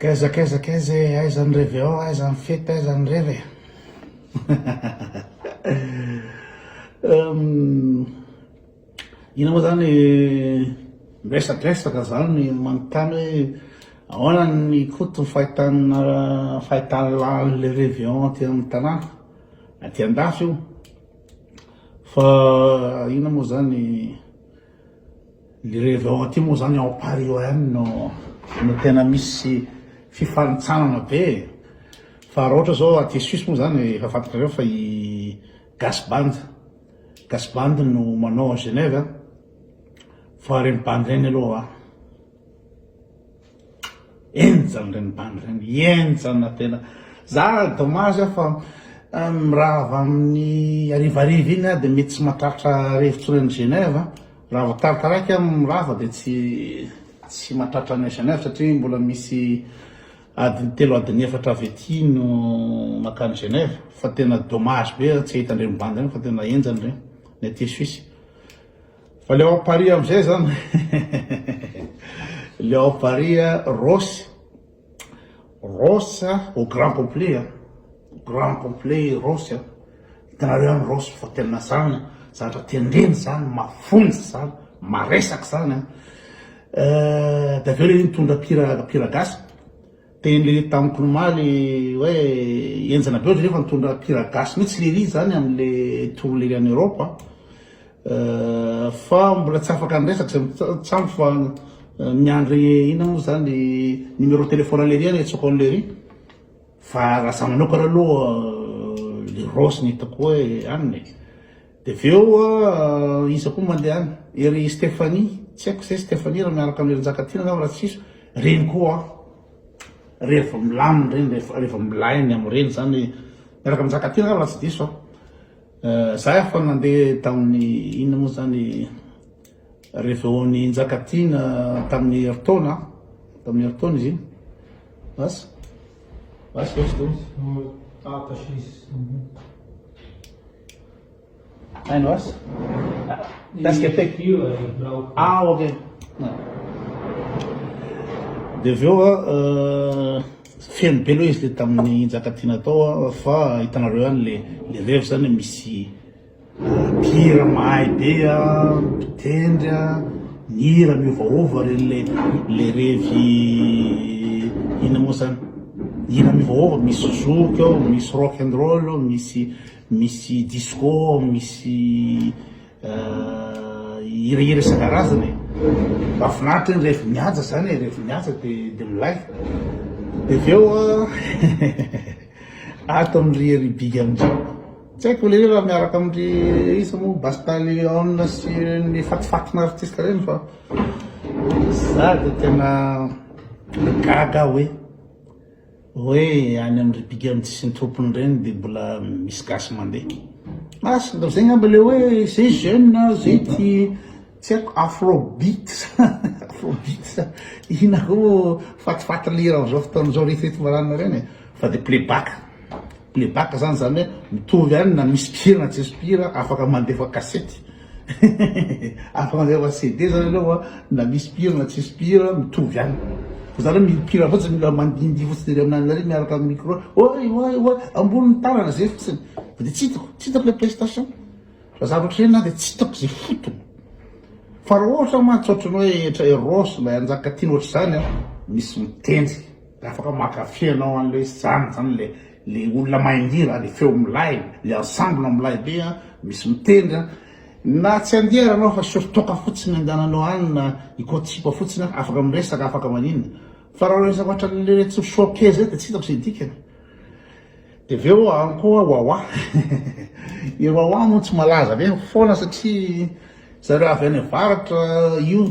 Kaiza kaiza kaiza e, aiza ny revy ao, aiza ny fety, aiza ny revy e. Hum, ina moa zany miresadresaka zany manontany hoe ahoana ny koto fahitana fahitana lalin'le revy ao aty amin'ny tanàna, aty an-dafy io fa ina moa zany. Ny revy ao aty moa zany ao Paris oem no no tena misy fifanintsanana be e. Fa raha ohatra zao aty Suisse moa zany efa fantatrareo fa i Gas Band, Gas Band no manao ao Genève a. Fa reny bandy reny aloha. Enjana reny bandy reny, enjana tena. Za dommage aho fa euh, mirava amin'ny arivariva iny aho dia mety tsy mahatratra rivotsony any Genève. Raha vao tarataraiky aho mirava dia tsy tsy mahatratra any Genève satria mbola misy adiny telo adiny efatra avy aty no makany Genève. Fa tena dommage be tsy ahita andreny bandy ireny fa tena enjana ireny ny aty Suisse. Fa le ao Paris amzay zan le ao Paris Ross Ross au grand complet a grand complet Ross a hitanareo any Ross fa tena zany zavatra tendrena zany mafonja zany maresaka zany a eh, de aveo le nitondra mpihira mpihira gasy Teny tamiko omaly hoe enjana be ohatry ny efa nitondra mpihira gasy mihitsy lery izany amin'le tour lery any Europe a! fa mbola tsy afaka niresaka zay tsamy fa miandry inona moa zany numéro téléphone an'i lery any atsoko an'i lery fa raha za manokana aloha le Rossy no hitako hoe anona e! Dia avy eo iza koa mandeha any? Ery Stephanie, tsy haiko izay Stephanie raha miaraka amin'i Hery-Njakatiana angamba raha tsy diso, ireny koa an! rehefa milamina ireny, rehefa rehefa milay ny amin'ireny izany, miaraka amin'i Njakatiana angamba raha tsy diso an! Izaho efa nandeha tamin'ny inona moa izany, reveo-n'i Njakatiana tamin'ny herintaona an! tamin'ny herintaona izy iny, bas, bas ve tsy diso? Hainao asa? Casque à tête. Ah, ok. Dia avy eo euh, feno be aloha izy dia tamin'ny Njakatiana tao fa hitanareo ihany le le revy zany misy mpihira euh, mahay be a, mpitendry a, mihira miovaova re le le revy ina moa zany hira miovaova misy zouk ao, misy rock and roll ao, misy Misy disco, misy hirahira isan-karazany e! Mahafinaritra iny rehefa mihaja izany e, rehefa mihaja dia dia milay. Dia avy eo ato amin'ry ry Big Amdry, tsy haiko le hoe raha miaraka amin'ry iza moa, Basta Leon sy ny fatifatina artista ireny fa za dia tena gaga hoe. Hoe any am ry bigandy sy ny tompony reny de mbola misy gasy mandeha. As ndao zay ngamba le hoe zay jeune a zay ty tsy aiko afro beat sa afro beat sa ina koa moa fatifaty lira am zao fotoana zao retoreto marana reny e fa de playback. Playback zany zany hoe mitovy ihany na misy mpihira na tsisy mpihira afaka mandefa kasety afaka mandefa CD zany ianao a na misy mpihira na tsisy mpihira mitovy ihany fa zany hoe mpihira fotsiny mila mandindihy fotsiny ery amin'any ary miaraka amin'ny micro oay oay oay ambony ny tanana zay fotsiny fa de tsy hitako tsy hitako le prestation fa za ohatry na de tsy hitako ze fotony fa raha ohatra mantsy ohatry ny hoe etra eros ilay anjaka tiana ohatry zany a misy mitendry Dia afaka mankafy ianao an'ilay izy zany, izany ilay ilay olona mahay mihira, ilay feo milay, ilay ensemble milay be an, misy mitendry an, na tsy handeha ary ianao fa sur toaka fotsiny andehananao any na ikoatsiba fotsiny an, afaka miresaka, afaka maninona. Fa raha resaka ohatran'ilay retsy showcase zay dia tsy hitako izay dikany. Dia avy eo any koa Wawa, i Wawa moa tsy malaza be foana satria zareo avy any avaratra io.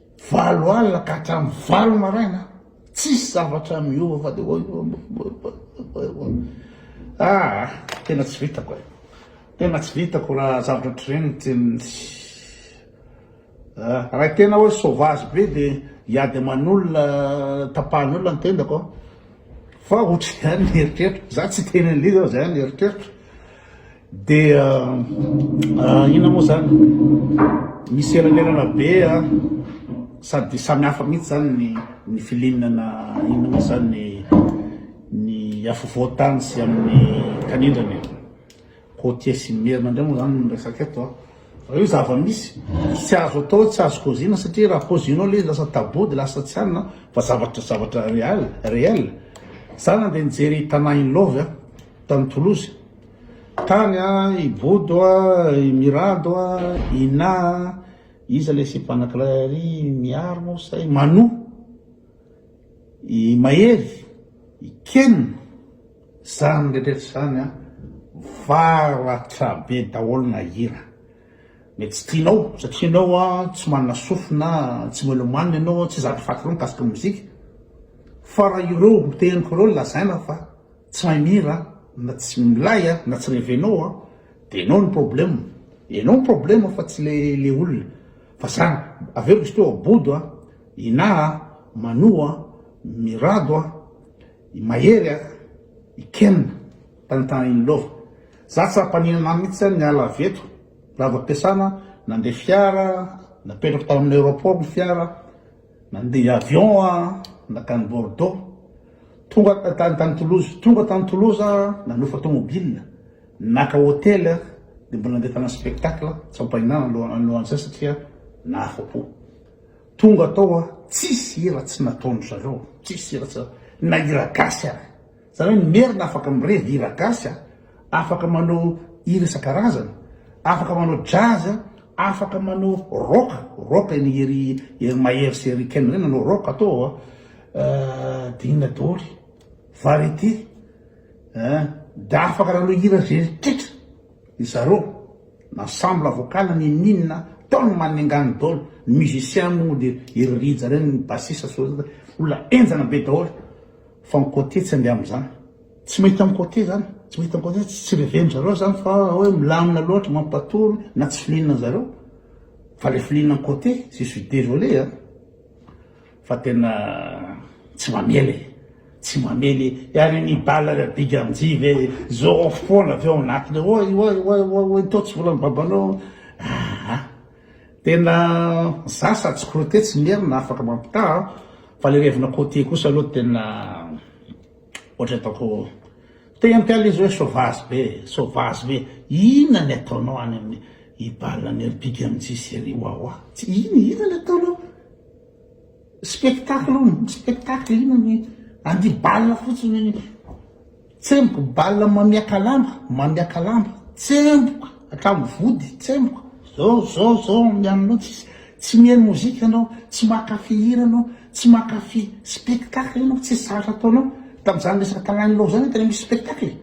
Valo alina ka hatramin'ny valo maraina tsisy zavatra miova fa dia oy oy oy oy oy ah tena tsy vitako e tena tsy vitako raha zavatra ohatr'ireny tena ah, raha tena hoe sauvage be dia hiady aman'olona tapahan'olona ny tendako aho fa ohatr'izany ny eritreritro za tsy teny an'ilay izy aho zany ny eritreritro Dia inona moa izany? Misy elanelana be sady samy hafa mihitsy izany ny ny filinana inona moa izany ny afovoan-tany sy amin'ny kanindrana e. Côtier sy ny merina indray moa izany no resaka eto an. Raha io zava-misy, tsy azo atao hoe tsy azo kaoziana satria raha kaozinao ilay izy lasa tabou dia lasa tsy anona fa zavatra zavatra real, réel. Izaho nandeha nijery Tana in love tany Toulouse. Tany an, i Bodo a, i Mirado a, i Na a, iza le sipanakilay ary, i Mihary moa sa i Manu, i Mahery, i Ken, zany rehetra zany an, varatra be daholo na hira mety tsy tianao satria enao an tsy manana sofina, tsy melomane enao, tsy zatra faty loatra mikasika ny mozika, fa raha ireo teniko ireo lazaina fa. Tsy mahay mihira na tsy milay a na tsy revenao a de enao ny problème enao ny problème fa tsy le olona fa za aveo misy teo a bodo a inah a manou a mirado a i mahery a i ken tanitany in love za tsy ampaninana mitsy a niala avy eto lava piasana nande fiara napetrako tao aminy aeroport ny fiara Nandeha avion aho nankany Bordeaux, tonga tany tany Toulouse, tonga tany Toulouse aho nanofa tomobile, naka hotely aho dia mbola nandeha tany spectacle tsy ampahinana aloha alohan'izay satria nahafapo. Tonga tao aho, tsisy hira tsy nataon-dry zareo, tsisy hira tsy na hira gasy ary. Zany hoe ny merina afaka mirevy hira gasy a, afaka manao hira isan-karazany, afaka manao jazz a, afaka manao rock, rock an'i Hery Hery Mahery sy Hery Ken reny nanao rock tao ao a, dia inona daholo, variété a, dia afaka nanao hira izay rehetra ry zareo, na ensemble vocal na ninoninona, tao ny maningana daholo, ny musiciens moa dia ry Rija reny, ny bassiste sy ny olona henjana be daholo. Fa ny côté tsy andeha amin'izany. Tsy mahita ny côté zany, tsy mahita ny côté, tsy reveny zareo zany fa hoe milamina loatra, mampatory na tsy filinan'ny zareo. Fa le filinan'ny côté, je suis désolé a. Fa tena tsy mamela e. Tsy mamela e. Ary ny bala le big anji ve zôrôfo foana avy ao anatiny ao. Oay oay oay oay oay tô tsy volan'ny babanao. Aa. Tena za sady tsy crotté tsy merina afaka mampitaha a, fa le revina côtier kosa aloha tena ohatry ataoko te hampiala izy hoe sauvage be e, sauvage be inona ny ataonao any amin'ny i bal ny ry big MJ sy ry wawa tsy inona inona ny ataonao spectacle spectacle inona ny andia bal fotsiny. Tsemboka bal mamiaka lamba, mamiaka lamba, tsemboka hatramin'ny vody, tsemboka. Zao, zao, zao ny anao tsisy, tsy mihaino mozika anao, tsy mankafy hira anao, tsy mankafy spectacle anao, tsisy zavatra ataonao. Tamin'izany resaka Talanilaho zany tena misy spectacle e.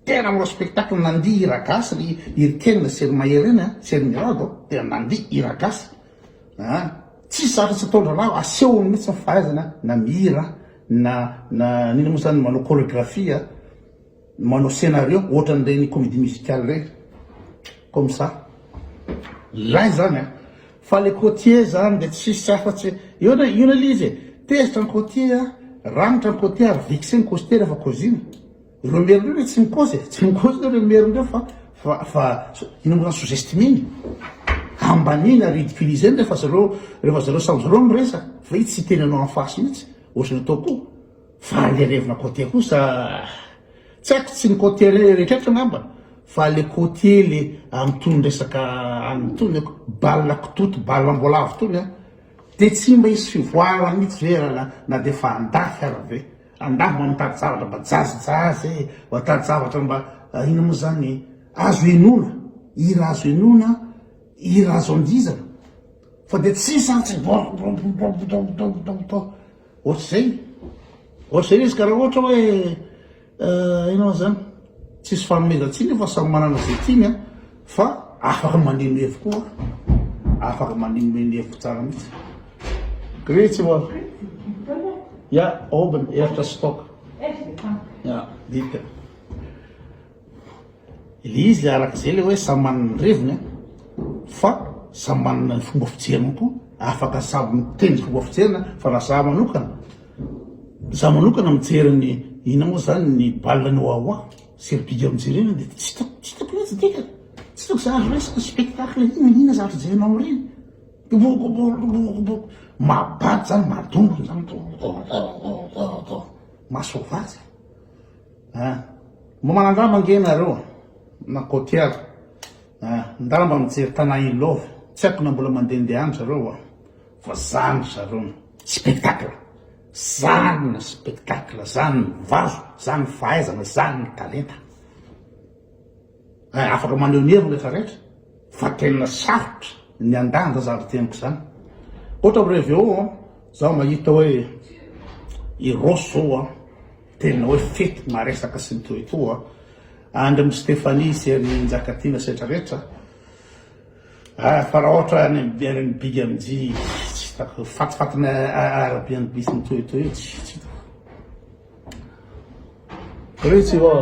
Tena manao spectacle, nandihy hira gasy ry Irikenina sy ry Maherena sy ry Mirado, tena nandihy hira gasy. Aa! Tsisy zavatra tsy ataondralavo, asehony mihitsy ny fahaizana na mihira na na n'inona moa zany manao choreographie a, manao scenario ohatran'ireny comédie musicale ireny, comme ça. Lay zany a! Fa le côtier zany dia tsisy afatsy eo na io na ilay izy e! Tezitra ny côtier a, ragnitra ny côtier ary vexé ny coster rehefa cousine. Ireo merina ireo ve tsy mikozy e? Tsy mikozy aloha ireo merina ireo fa fa fa ino moa zany sous-estimeny? Ambaniny ary ridiculiseny rehefa zareo rehefa zareo samy zareo miresaka fa i tsy hiteny anao en face mihitsy ohatry ny atao ko fahalerevina côté kosa tsy haiko tsy ny côté rehetra angamba fa le côté le amin'itony resaka any itony aiko bal kitoto bal amboalavo itony an dia tsy mba hisy fivoarana mihitsy ve raha na dia efa andafy ary ve? Angaha mba mitady zavatra mba jazijazy e, watady zavatra mba inona moa zany azo henoina, hira azo henoina, hira azo andihizana fa dia tsy sarotra ohatr'izay, ohatr'izay le izy ka raha ohatra hoe inona moa zany, tsisy fanomezan-tsiny io fa samy manana izay tiany a, Fa afaka mandeha mihevo koa an! Afaka mandeha mihevo tsara mihitsy. Gretsy wa. Ya, oben, ertra stock. Ya, dika. Ilay izy ilay arak'izay ilay hoe samy manana ny reviny an! Fa samy manana ny fomba fijeriny koa. Afaka samy miteny ny fomba fijeriny an! Fa raha za manokana, za manokana mijery ny, inona moa zany, ny bal ny wawa. Servide eo mijerena dia tsy hitako, tsy hitako mihitsy dika, tsy hitako izay azo raisina, spectacle inona na inona zavatra jerena ao aoriana, boboboboboboboboboo, mahabado izany, madongona izany, boboboboboboboo, masoavazy e! ah, mba manandrama ange ianareo na cotiers ah, ndao mba mijery Tana i Love, tsy haiko na mbola mandehandeha any zareo oa, fa zany ry zareo, spectacle. Zany ny spectacle, zany ny vazo, zany ny fahaizana, zany ny talenta. Eh, afaka maneho ny heviny rehetra rehetra, fa tena sarotra ny andanja zany teniko zany. Ohatra amin'ireo VO, an, zaho mahita hoe i Ross zao an, tena hoe fety maresaka sy ny toy toa, Andry Stephanie sy an'i Njakatiana sy rehetra rehetra, Ah fa raha ohatra any am bere ny big am tsy hitako fatifatina arabe ny bitsy ny toy toy tsy hitako Reo tsy vao